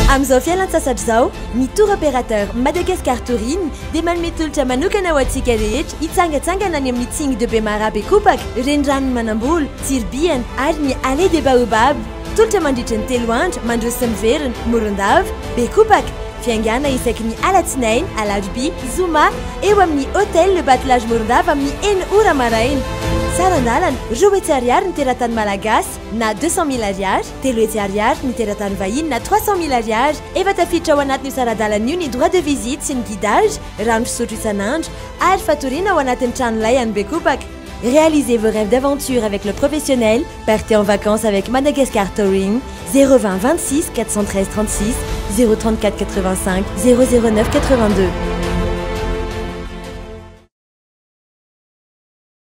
Amin'izao fialan-tsasatra izao, ny Tour Opérateur Madagascar Touring dia manome tolotra manokana ho antsika rehetra hitsangantsangana any amin'ny Tsing de Bemaraha Bekopaka, Reniranon'i Manambolo, Tsiribihana ary ny Allée des Baobabs. Tolotra mandritry ny telo andro mandroso sy miverina, Morondava, Bekopaka. Fiangàna isaky ny Alatsinainy, Alarobia, Zoma, eo amin'ny Hôtel Le Batelage Morondava amin'ny enina ora maraina. Saran-dalana, roa hetsy ariary ny teratany malagasy na deux cent mille ariary. telo hetsy Ariary ny teratany vahiny na trois cent mille Ariary, efa tafiditra ao anatin'io sara-dalana io ny droit de visite sy ny guidage, rano fisotro isan'andro ary fatoriana ao anatin'ny trano lay any Bekopaka. Réalisez vos rêves d'aventure avec le professionnel, partez en vacances avec Madagascar Touring, zéro vingt vingt six quatre cent treize trente six, zéro trente quatre quatre vingt cinq, zéro zéro neuf quatre vingt deux.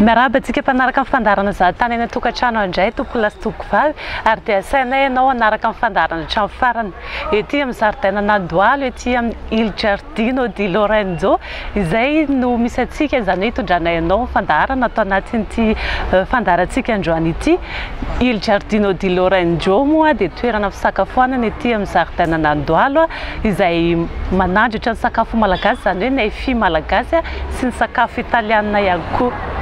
Miarahaba antsika mpanaraka ny fandaharana Za tany any an-tokantrano handray tompolahy sy tompovavy ary dia asainay ianao hanaraka ny fandaharana hatramin'ny farany ety amin'ny zaridainan'Andohalo ety amin'ny Il Giardino di Lorenzo izay no misy antsika izany hoe hitondranay anao ny fandaharana ato anatin'ity fandaharantsika androany ity Il Giardino di Lorenzo moa dia toerana fisakafoanana ety amin'ny zaridainan'Andohalo izay manandratra ny sakafo malagasy izany hoe ny fy malagasy sy ny sakafo italianina ihany koa.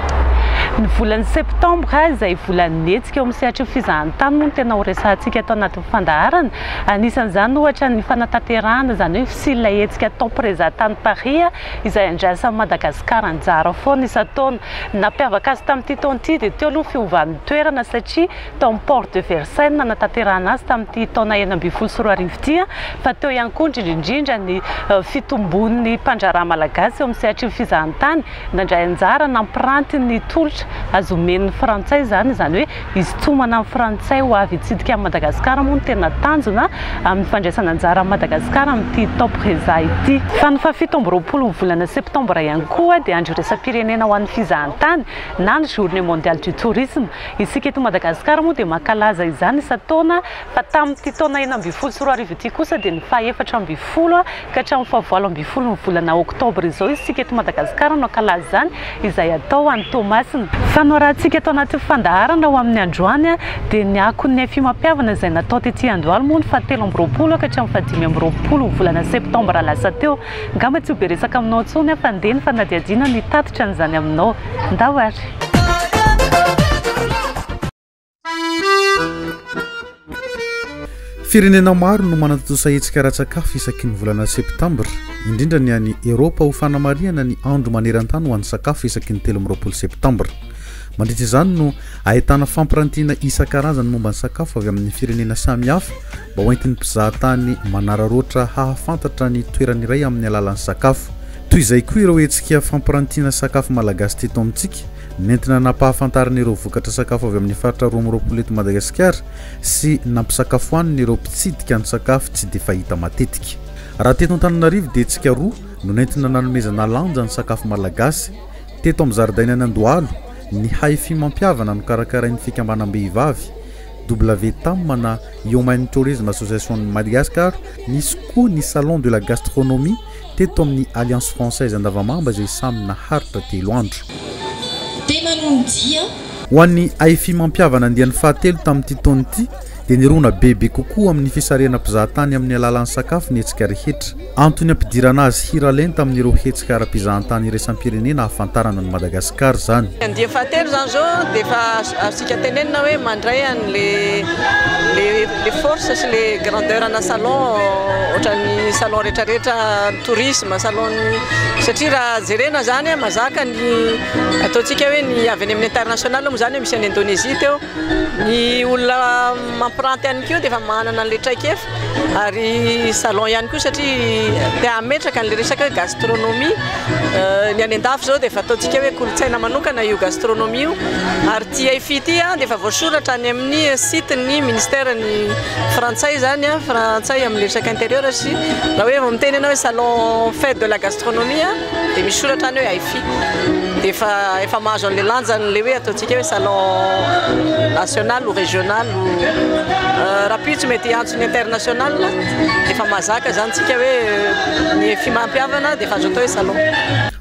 Ny volany septambra izay volan'ny hetsika eo amin'ny sehatry ny fizahantany moa no tena ho resahantsika ato anatin'ny fandaharana. Anisan'izany ohatra ny fanatanterahana izany hoe fisian' ilay hetsika Tempreza tany Paris izay andrasan'i Madagasikara anjara foana isan-taona. Ny nampiavaka azy tamin'ity taona ity dia teo aloha ny fiovan'ny toerana satria tao amin'ny Porte de Versailles no nanatanterahana azy tamin'ity taona enina ambin'ny folo sy roa arivo ity, fa teo ihany koa indrindra indrindra ny fitomboan'ny mpandraharaha malagasy eo amin'ny sehatry ny fizahantany, nandray anjara nampiranty ny tolotra azo omen'ny frantsay izany, izany hoe hisintomana ny frantsay ho avy hitsidika an'i Madagasikara moa no tena tanjona amin'ny fandraisana anjara an'i Madagasikara amin'ity Top Reza ity. Fa ny fahafito amby roapolon'ny volana septambra ihany koa dia andro iraisam-pirenena ho an'ny fizahantany na ny Journée Mondiale du Tourisme, Isika eto Madagasikara moa dia mankalaza izany isan-taona fa tamin'ity taona enina ambin'ny folo sy roa arivo ity kosa dia ny fahefatra ambin'ny folo ka hatramin'ny fahavalo ambin'ny folon'ny volana oktobra izao isika eto Madagasikara no hankalaza izany izay atao any Toamasina. Fanoarantsika ato anatin'ny fandaharana ho amin'ny androany dia ny akon'ny fihomam-pihavana izay natao tety Andohalo moa ny fahatelo amby roapolo ka hatramin'ny fahadimy amby roapolo volana septambra lasa teo. Ngamba tsy ho be resaka aminao intsony aho fa ndeha ny fanadihadiana no hitatitra an'izany aminao. Ndao ary! Firenena maro no manatontosa hetsika ara-tsakafo isaky ny volana Septambra, indrindra ny any Eropa ho fanamarihana ny Andro maneran-tany ho an'ny sakafo isaky ny telo amby roapolo Septambra. Mandritra izany no ahitana fampirantiana isan-karazany momba ny sakafo avy amin'ny firenena samihafa Mba ho entin'ny mpizahatany manararaotra hahafantatra ny toerany iray amin'ny alalan'ny sakafo. Toy izay koa ireo hetsika fampirantiana sakafo malagasy teto amintsika, nentina nampahafantarina ireo vokatra sakafo avy amin'ny faritra roa amby roapolo eto Madagasikara sy nampisakafoanina ireo mpitsidika ny sakafo tsy dia fahita matetika. Raha teto Antananarivo dia hetsika roa no nentina nanomezana lanja ny sakafo malagasy. Teto amin'ny zaridainan'Andohalo, ny Hi-Fi mampihavana nokarakarain'ny fikambanam-behivavy. WTAM na Human Tourism Association Madagascar, nisy koa ny Salon de la Gastronomie teto amin'ny Alliance Française Andavamamba izay samy naharitra telo andro. Ho an'ny AFI mampihavana andiany fahatelo tamin'ity taona ity dia nirona bebe kokoa amin'ny fisarihana mpizahatany amin'ny alalan'ny sakafo ny hetsika rehetra. Antony hampidirana azy hira lenta amin'ireo hetsika ara-pizahantany iraisam-pirenena hahafantarana an'i Madagasikara izany. Andiany fahatelo izany izao dia efa azontsika tenenina hoe mandray an'ilay force sy ilay grandeur ana salon ohatran'ny salon rehetrarehetra tourisme, salon satria raha jerena izany mazaka ny ataontsika hoe ny avy any amin'ny international moa izany misy an'i Indonesie teo. Ny olona mampiranty ihany koa dia efa manana an'ilay traikefa ary salon ihany koa satria te hametraka an'ilay resaka hoe gastronomie. Ny any an-dafy izao dia efa ataontsika hoe kolontsaina manokana io gastronomie io ary ity Hefi ity dia efa voasoratra any amin'ny site ny ministère ny frantsay izany, frantsay amin'ny resaka intérieur sy raha hoe vao miteny ianao hoe salon fête de la gastronomie. dia misy soratra any hoe Hi-Fi dia efa efa mahazo an'ilay lanjany ilay hoe ataontsika hoe salon national ou régional ou euh, rapitsy mety hiantso ny international efa mahazaka izany tsika hoe euh, ny Hi-Fi mampiavana dia efa azo atao hoe salon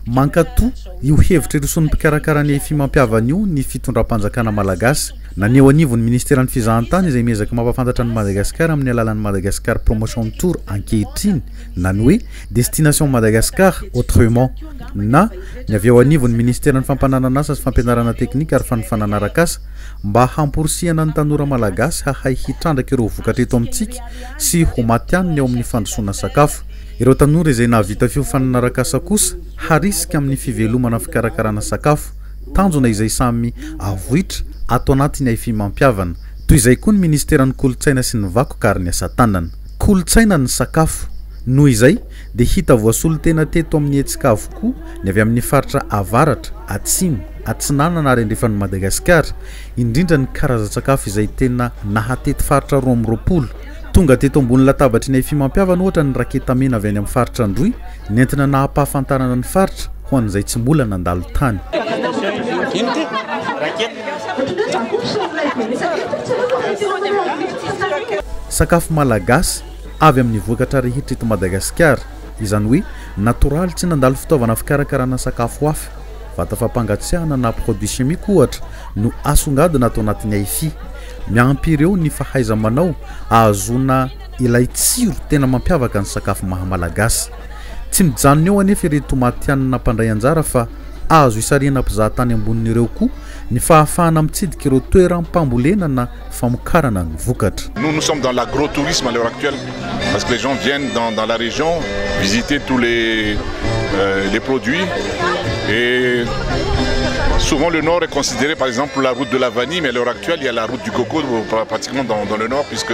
Mankatò io hevitra iroson'ny mpikarakara ny Hi-Fi mampiavana io ny fitondram-panjakana malagasy naneho anivon'ny ministeran'ny fizahantany izay miezaka mampafantatra an'i Madagasikara amin'ny alalan'ny Madagascar Promotion Tour ankehitriny na ny hoe Destination Madagascar Autrement na ny avy ao anivon'ny Ministeran'ny Fampananan'asa sy Fampianarana Teknika ary Fanofanana Arak'asa mba hamporisihana ny tanora malagasy hahay hitrandraka ireo vokatra eto amintsika sy ho matihanina eo amin'ny fandrosoana sakafo. Ireo tanora izay nahavita fiofanana arak'asa kosa harisika amin'ny fivelomana fikarakarana sakafo, tanjona izay samy avoitra ato anatin'ny Aifim-mampihavana. Toy izay koa ny Ministeran'ny Kolontsaina sy ny Vakoka ary ny Asa-tanana. Kolontsaina ny sakafo. Noho izay dia hita voasolo tena teto amin'ny hetsika avokoa ny avy amin'ny faritra avaratra, atsimo, atsinanana ary andrefan'i Madagasikara, indrindra ny karazan-tsakafo izay tena nahatety faritra roa amby roapolo. Tonga teto ambony latabatry ny Aifimampihavana ohatra ny raketa mena avy any amin'ny faritra Androy, nentina nahapahafantarana ny faritra ho an'izay tsy mola nandalo tany. Sakafo malagasy avy amin'ny vokatra rehetra eto Madagasikara, izany hoe natoraly tsy nandalo fitaovana fikarakarana sakafo hafa, vata fampangatsiahana na produits chimiques ohatra no asongadina ato anatin'ny AIFI. Miampy ireo ny fahaiza-manao ahazoana. ilay tsiro tena mampiavaka ny sakafo maha Malagasy. Tsy mijanona eo anefa ireto matihanina mpandray anjara fa azo isarihana mpizaha tany ambonin'ireo koa ny fahafahana mitsidika ireo toeram-pambolena na famokarana ny vokatra. Nous, nous sommes dans l'agrotourisme à l'heure actuelle parce que les gens viennent dans, dans la région visiter tous les, euh, les produits et souvent le nord est considéré par exemple la route de la vanille mais à l'heure actuelle il y a la route du coco pratiquement dans, dans le nord puisque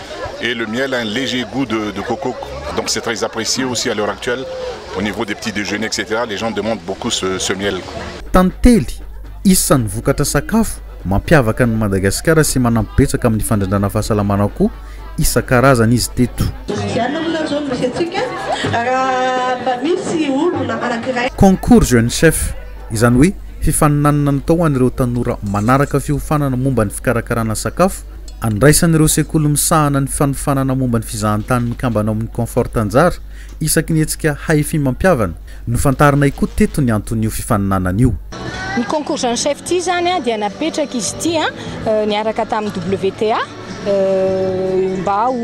et le miel a un léger gout de de coco donc c'est très apprécié aussi à l'heure actuelle au niveau des petits déjeuners etc les gens demandent beaucoup ce ce miel. Tantely, isan'ny vokatra sakafo mampiavaka an'i Madagasikara sy manampy betsaka amin'ny fandrindrana fahasalamana akoho isan-karazany izy teto. Concours Jeune Chef, izany hoe fifaninanana natao ho an'ireo tanora manaraka fiofanana momba ny fikarakarana sakafo Andraisan'ireo sekoly misahana ny fanofanana momba ny fizahantany mikambana ao amin'ny Comfort anjara isaky ny hetsika Hahefim-mampihavana. Nofantarinay koa teto ny anton'io fifaninanana io. Ny concours jeune chef ity izany dia napetraka izy ity niaraka tamin'ny WTA mba ho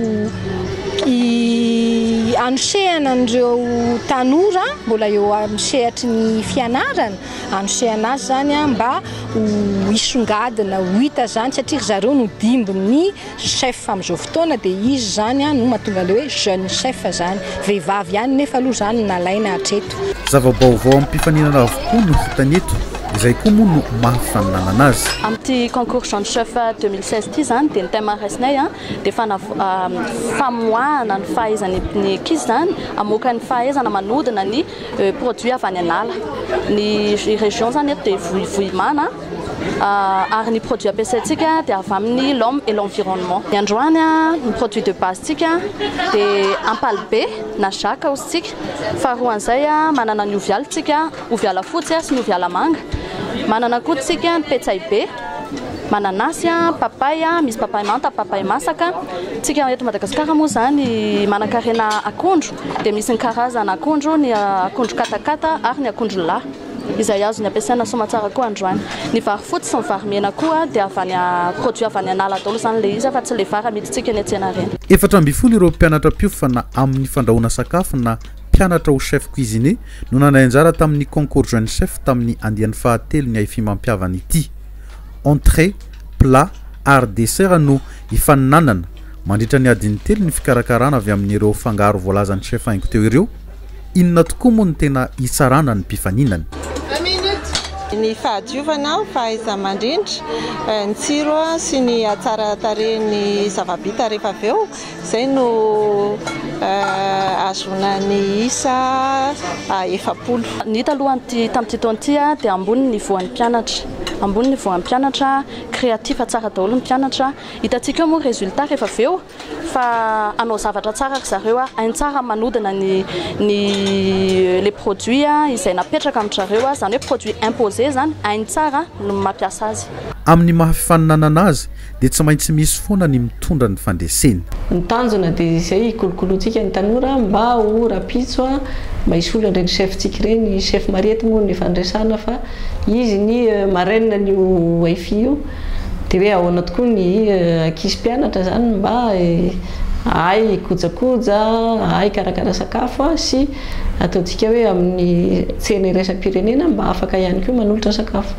hanosehana an'ireo tanora mbola eo amin'ny sehatry ny fianarana hanosehana azy zany mba ho hisongadina ho hita zany satria ry zareo no dimbin'ny chef amin'izao fotoana dia izy zany no mahatonga an'ilay hoe jeune chef zany. Vehivavy ihany nefa aloha zany no nalaina hatreto. Zava-baovao amim-pifaninana avokoa no hitany eto, izay koa moa no maha fifaninanana azy. Amin'ity concours jeune chef deux mille seize ity zany dia ny thème raisinay dia fanava famoahana ny fahaizan'ny ankizy zany hamoaka ny fahaizana manodina ny Produit avy any an'ala. Ny région izany eto dia Vohimana ary ny produit ampiasaintsika dia avy amin'ny l'homme et l'environnement. Ny androany ny produit de base ntsika dia ampalibe na jacques hozy tsika. Faharoa an'izay manana ny ovy aly tsika, ovy alafotsy sy ny ovy alamanga. Manana koa tsika ny petsay be. Mananasy, papay, misy papay manta, papay masaka. Tsika eto Madagasikara moa izany manankarena akondro dia misy ny karazana akondro, ny akondro katakata ary ny akondro lahy izay azony ampiasaina soamatsara koa androany. Ny vary fotsy sy ny vary mena koa dia avy any, produit avy any an'ala daholo izany ilay izy fa tsy ilay vary amidintsika eny an-tsena ireny. Efatra ambin'ny folo ireo mpianatra mpiofana amin'ny fandrahoana sakafo na mpianatra ho chef cuisinier no nandray anjara tamin'ny concours jeune chef tamin'ny andiany fahatelo ny haifimampihavana ity. Entrée, plat ary dessert no hifaninanana mandritra ny adiny telo ny fikarakarana avy amin'ireo fangaro voalazan'ny chef haingo teo ireo. Inona tokoa moa no tena hitsarana ny mpifaninana? Ny fahadiovana, fahaiza-mandrindra, ny tsiro sy ny hatsara tarehin'ny zava-bita rehefa avy eo Izay no ahazoana ny isa efapolo. Ny hita aloha tamin'ity taona ity dia ambony ny voan'ny mpianatra, ambony ny voan'ny mpianatra, créatif tsara daholo ny mpianatra. Hitantsika eo moa ny résultat rehefa avy eo fa hanao zavatra tsara ry zareo, hainy tsara ny manodina ny ny les produits izay napetraka amin-dry zareo, izany hoe produits imposés izany, hainy tsara ny mampiasa azy. Amin'ny maha fifaninanana azy dia tsy maintsy misy foana ny mitondra ny fandreseny. Ny tanjona dia izay hikolokoloantsika ny tanora mba ho rapitso a! mba hisolo an'ireny chef tsika ireny, chef mariety moa no efa niresahana fa izy ny marraine an'io wifi io, dia hoe ahoana tokoa ny ankizy mpianatra zany mba hahay hikojakoja, hahay hikarakara sakafo a! sy ataontsika hoe amin'ny tsena iraisam-pirenena mba afaka ihany koa manolotra sakafo.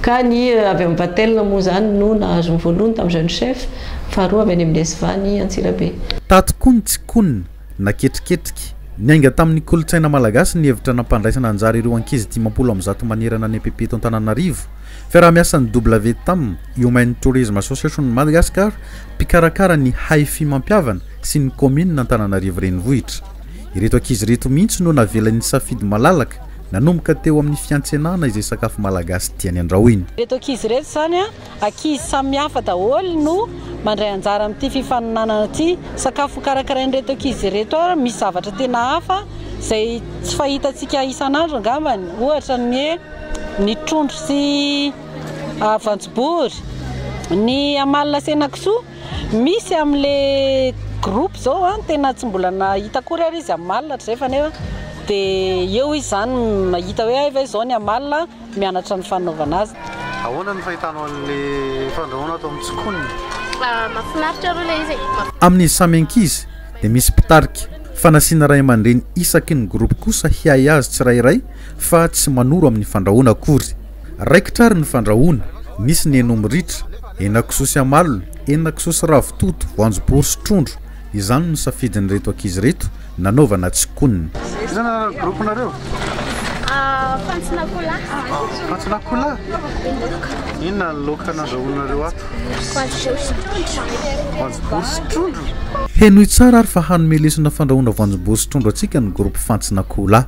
Ka ny avy amin'ny Vatel moa izany no nahazo ny voalohany tamin'izay no chef, faharoa avy any amin'ny SVA ny Antsirabe. Tato koa ny tsikonona, na ketriketrika. Niainga tamin'ny kolontsaina malagasy ny hevitra nampandraisana anjara ireo ankizy dimampolo amby zato manerana ny EPP eto Antananarivo. Fiaraha-miasan'ny WTAM, Human Tourism Association Madagascar, mpikarakara ny Hifi mampihavana, sy ny kaominina Antananarivo Renivohitra. Ireto ankizy ireto mihitsy no navela nisafidy malalaka Nanomboka teo amin'ny fiantsenana izay sakafo malagasy tiany andrahoina. Ireto ankizy ireto izany a, ankizy samihafa daholo no mandray anjara amin'ity fifaninanana ity. Sakafo hokarakarain'ireto ankizy ireto ary misy zavatra tena hafa izay tsy fahitantsika isan'andro angambany, ohatra ny hoe ny trondro sy voanjobory, ny amalona sy henakisoa. Misy amle groupe zao an tena tsy mbola nahita akory ary izy am alina hatrizay fa nefa de eo izy zany mahita hoe hay ve zao ny am alina mianatra ny fanaovana azy. Ahoana ny fahitanao an'le fandrahoana ato amin'ny tsikonina? Mahafinaritra aloha le izy e. Amin'ny samy ankizy dia misy mpitarika, fa nasiana ray aman-dreny isaky ny groupe kosa hiahy azy tsirairay fa tsy manoro amin'ny fandrahoana akory. Raikitra ary ny fandrahoana, nisy ny henom ritra, henakisoa sy amalona, henakisoa sy ravitoto, voanjobory sy trondro, izany no safidin'ireto ankizy ireto nanaovana tsikonina. Iza ny anaran'ny groupe nareo? Fantson'akoholahy. Fantson'akoholahy? Inona ny laoka nandrahoinareo ato? Voanjobory sy trondro. Henoy tsara ary fa hanome lesona fandrahoana voanjobory sy trondro antsika ny groupe Fantson'akoholahy.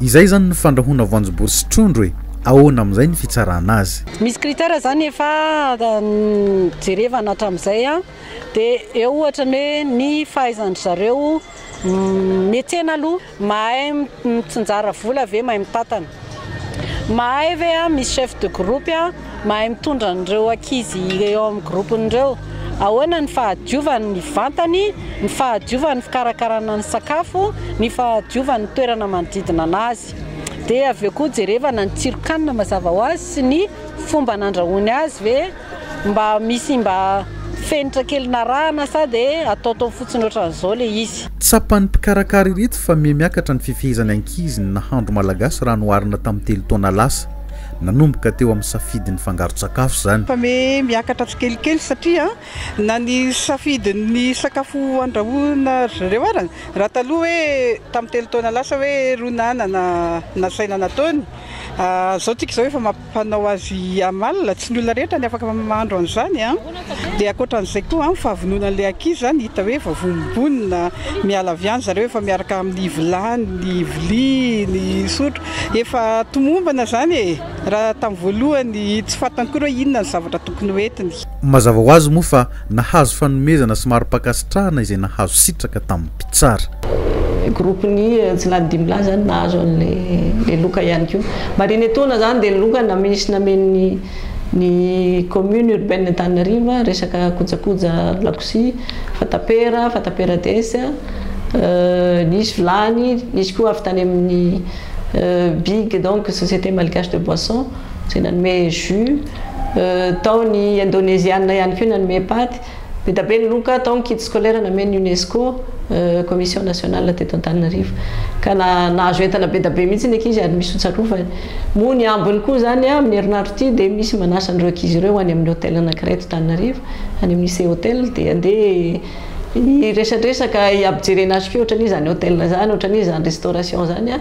Izay zany ny fandrahoana voanjobory sy trondro e! Ahoana amin'izay ny fitsarana azy? Misy critère zany efa jerevana hatramizay an, de eo ohatra ny hoe ny fahaizan-dry zareo mihetsena aloha, mahay mitsinjara vola ve, mahay mitantana, mahay ve misy chef de groupe. Mahay mitondra an'ireo ankizy eo amin'ny gropony ireo. Ahoana ny fahadiovany ny vantany, ny fahadiovany ny fikarakarana ny sakafo, ny fahadiovany ny toerana manodidina an'azy. Dia avy eo koa jerevana ny tsiron-kanina mazava ho azy sy ny fomba nandrahoany azy ve mba misy mba fenitra kely narahana sa dia ataotao fotsiny ohatran'izao ilay izy. Tsapan'ny mpikarakara ireto fa mihamiakatra ny fifehezan'ny ankizy ny nahandro malagasy raha noharina tamin'ny telo taona lasa. Nanomboka teo amin'ny safidy nifangaro-tsakafo izany. Fa miakatra tsikelikely satria na ny safidin'ny sakafo andrahoina ry zareo ara, raha taloha hoe tamin'ny telo taona lasa hoe rona anana nasaina nataony, izao tsika izao efa mampanao azy amalona, tsy ny olona rehetra ny afaka mahandro an'izany. Dia ankoatra an'izay koa amin'ny fahavononan'ilay ankizy izany hita hoe vao vonombonona, miala avy any zareo efa miaraka amin'ny vilany, ny vilia, ny sotro. Efa tomombana izany e! Raha tamin'ny voalohany tsy fantany akory hoe inona ny zavatra tokony ho entiny. Mazava ho azy moa fa nahazo fanomezana sy mari-pankasitrahana izay nahazo sitraka tamin'ny mpitsara. Groupe ny Jilany dimy lahy izany nahazo an'ilay le loka ihany koa. Marihina etoana izany dia ny loka namisy namen'ny. Ny commune urbaine Antananarivo resaka kojakoja lakozia, fatapera, fatapera des, nisy vilany, nisy koa avy tany amin'ny big donc société malgache de boisson izay nanome jus, tao ny indoneziana ihany koa nanome paty. Be da be ny loka tao ny kit scolaire namen'ny Unesco, commission nationale teto Antananarivo, ka nahazo entana be da be mihitsy ny ankizy ary misy ho tsarovany. Moa ny ambiny koa izany, amin'ny herinandro ity dia misy manasa an'ireo ankizy ireo ho any amin'ny hôtel anankiray eto Tananarivo, any amin'ny Ise Hotel, dia handeha hiresadresaka, hiaby jerena azy koa, ohatran'iza izany hôtel izany, ohatran'iza izany restauration izany,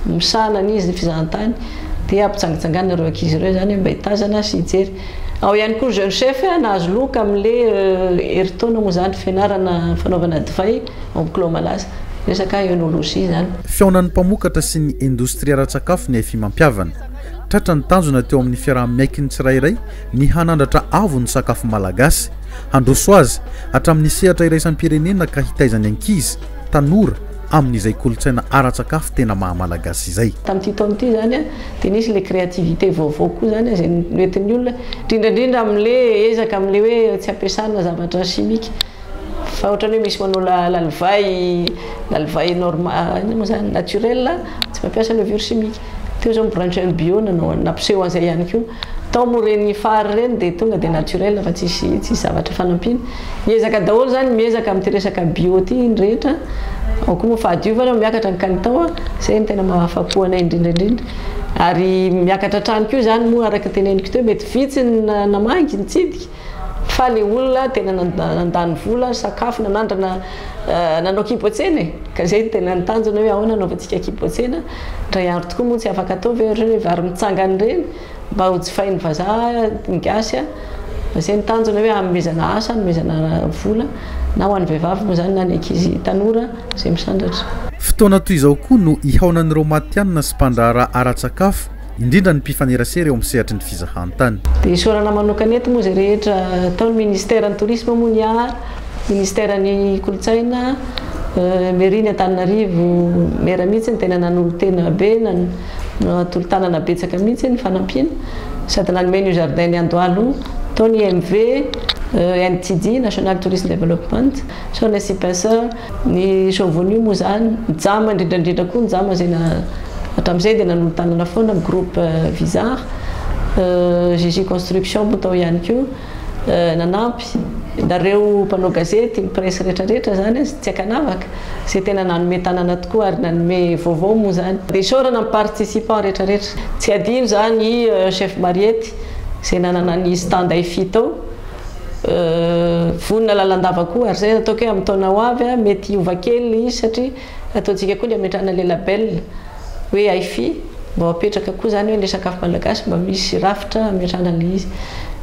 misahana an'iza ny fizahantany, dia hampijangijangana ireo ankizy ireo izany mba hitazana sy hijery. Ao ihany koa ny Jeune Chef nahazo loka amin'ilay herintaona moa izany fianarana fanaovana divay ao amin'ny Clos Malaza. Resaka œnologie izany. Fihaonan'ny mpamokatra sy ny indostria ara-tsakafo ny Afimampihavana. Tratra ny tanjona teo amin'ny fiaraha-miaiky ny tsirairay ny hanandratra avo ny sakafo malagasy, handroso azy hatramin'ny sehatra iraisam-pirenena ka hitaiza ny ankizy, tanora, amin'izay kolontsaina ara-tsakafo tena maha Malagasy izay. Tamin'ity taona ity izany dia nisy ilay créativité vaovao koa izany izay noentin'ny olona, indrindra indrindra amin'ilay ezaka amin'ilay hoe tsy ampiasana zavatra chimique fa ohatran'ny hoe misy manao lalivay, lalivay normal, inona moa izany, naturel, tsy mampiasa levure chimique. Teo izao ny branche bio nanao an'i, nampiseho an'izay ihany koa. Tao moa ireny fary ireny dia tonga dia naturel fa tsisy tsisy zavatra fanampiana. Miezaka daholo izany, miezaka amin'ity resaka bio ity ny rehetra. Ao koa moa fahadiovana moa miakatra ny kalitao a, izay no tena mahafapo anay indrindra indrindra. Ary miakatra hatrany koa izany moa araka ny teneniko teo, mety vitsy ny namagy, nitsidika. Fa le olona tena nandany vola, sakafo, nanandrana, nanao kibotsena e! Ka zay no tena ny tanjona hoe ahoana anaovantsika kibotsena, indray andro tokoa moa tsy afaka atao ve ohatra hoe vary mitsangana ireny mba ho jifain'ny vazaha, ny gasy a! Fa zay ny tanjona hoe hanomezana asa, hanomezana vola na ho an'ny vehivavy moa zany na ny ankizy tanora izay misandratra. Fotoana toy izao koa no ihaonan'ireo matihanina sy mpandraharaha ara-tsakafo indrindra ny mpifanerasera eo amin'ny sehatry ny fizahantany. Dia isaorana manokana eto moa izay rehetra tao ny Ministeran'ny Tourisme moa ny ahy, Ministeran'ny Kolontsaina, Mairie-n'ny Antananarivo, Maire mihitsy no tena nanolo-tena be, natolo-tanana betsaka mihitsy ny fanampiana, sady nanome an'io Jardin-n'i Andohalo io, tao ny IMV, NTD, National Tourist Development, Sao les Cypenseurs, ny Chauvenus moa izany, Jama indrindra indrindra koa ny Jama izay hatramin'izay dia nanolo-tanana foana ny groupe Vizard. JJ Construction moa tao ihany koa nanampy. Nareo mpanao gazety, ny presse rehetra rehetra izany tsy ankanavaka, izay tena nanome tanana tokoa ary nanome vaovao moa izany. Dia isaorana ny participants rehetra rehetra. Tsy adino izany i Chef Mariette izay nanana ny stand IFI tao. vonona lalandava koa ary zay ataoko hoe amin'ny taona ho avy a mety hiova kely le izy satria ataontsika koa ny hametrahana le label hoe Hifi mba ho apetraka koa zany hoe le sakafo malagasy mba misy rafitra hametrahana le izy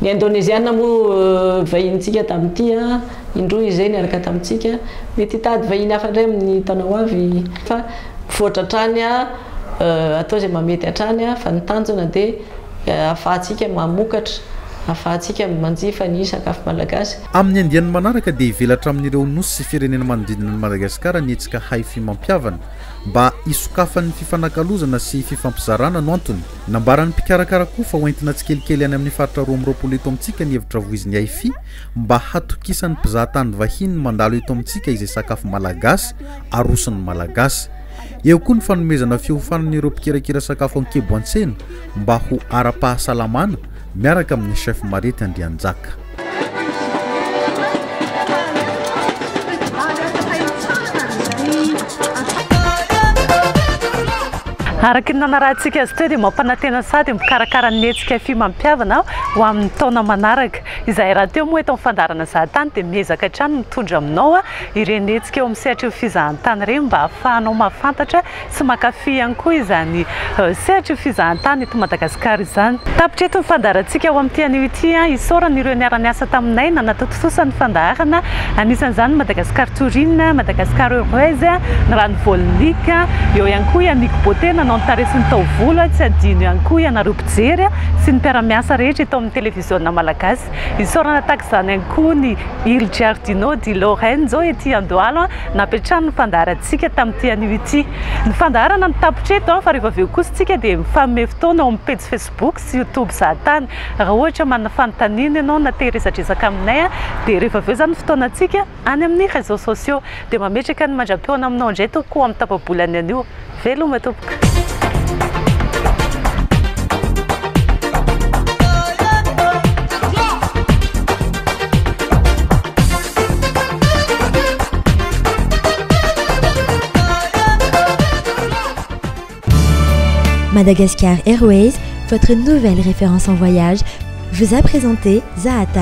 ny indoneziana moa vahinintsika tamin'ity a indroa izay niaraka tamintsika mety hitady vahiny hafa ndray amin'ny taona ho avy fa mivoatra hatrany a atao zay mahamety hatrany a fa ny tanjona de Ahafahantsika mamokatra, ahafahantsika manjifa ny sakafo malagasy. Amin'ny andiany manaraka dia hivelatra amin'ireo nosy sy firenena manodidina an'i Madagasikara ny hetsika Haify Mampihavana mba hisokafan'ny fifanakalozana sy fifampizarana no antony. Nambaran'ny mpikarakara koa fa hoentina tsikelikely any amin'ny faritra roa amby roapolo eto amintsika ny hevitra voizin'i Haify mba hatokisan'ny mpizahatany vahiny mandalo eto amintsika izay sakafo malagasy aroson'ny Malagasy. Eo koa ny fanomezana fiofanana ireo mpikirakira sakafo an-kibo an-tsena mba ho ara-pahasalamana miaraka amin'ny chef Marety Andrianjaka. Araka ny nanarahantsika azy teo dia mampanantena sady mikarakara ny hetsika fihiman-pihavana ho amin'ny taona manaraka. Izahay rahateo moa eto amin'ny fandaharana Zahatany dia miezaka hatrany mitondra aminao ireny hetsika eo amin'ny sehatra io fizahantany ireny mba hahafahanao mahafantatra sy mankafy ihany koa izany sehatra io fizahantany eto Madagasikara izany. Tapitra eto ny fandaharantsika ho amin'ity anio ity. Isaorana ireo niara-niasa taminay nanatontosa ny fandaharana, anisan'izany Madagascar Tourine, Madagascar Heureuse, ny Rano Volnic, eo ihany koa i Amico Beauté nanao ny tarehy sy ny taovolo, tsy adino ihany koa ianareo mpijery sy ny mpiara-miasa rehetra eto amin'ny televiziona malagasy. Isaorana tahaka izany ihany koa ny Il Giardino di Lorenzo ety Andohalo nampiantrano ny fandaharantsika tamin'ity anio ity. Ny fandaharana no tapitra eto fa rehefa avy eo kosa isika dia mifanome fotoana ao amin'ny pejy Facebook sy YouTube Zahatany. Raha ohatra manana fanontaniana ianao na te hiresadresaka aminay dia rehefa avy eo izany ny fotoanantsika. Any amin'ny réseaux sociaux. Dia mametraka ny mandram-peo anao aminao indray tompoko amin'ny tapa-bolany anio. Veloma tompoko. Madagascar Airways, votre nouvelle référence en voyage, vous a présenté Zahatan.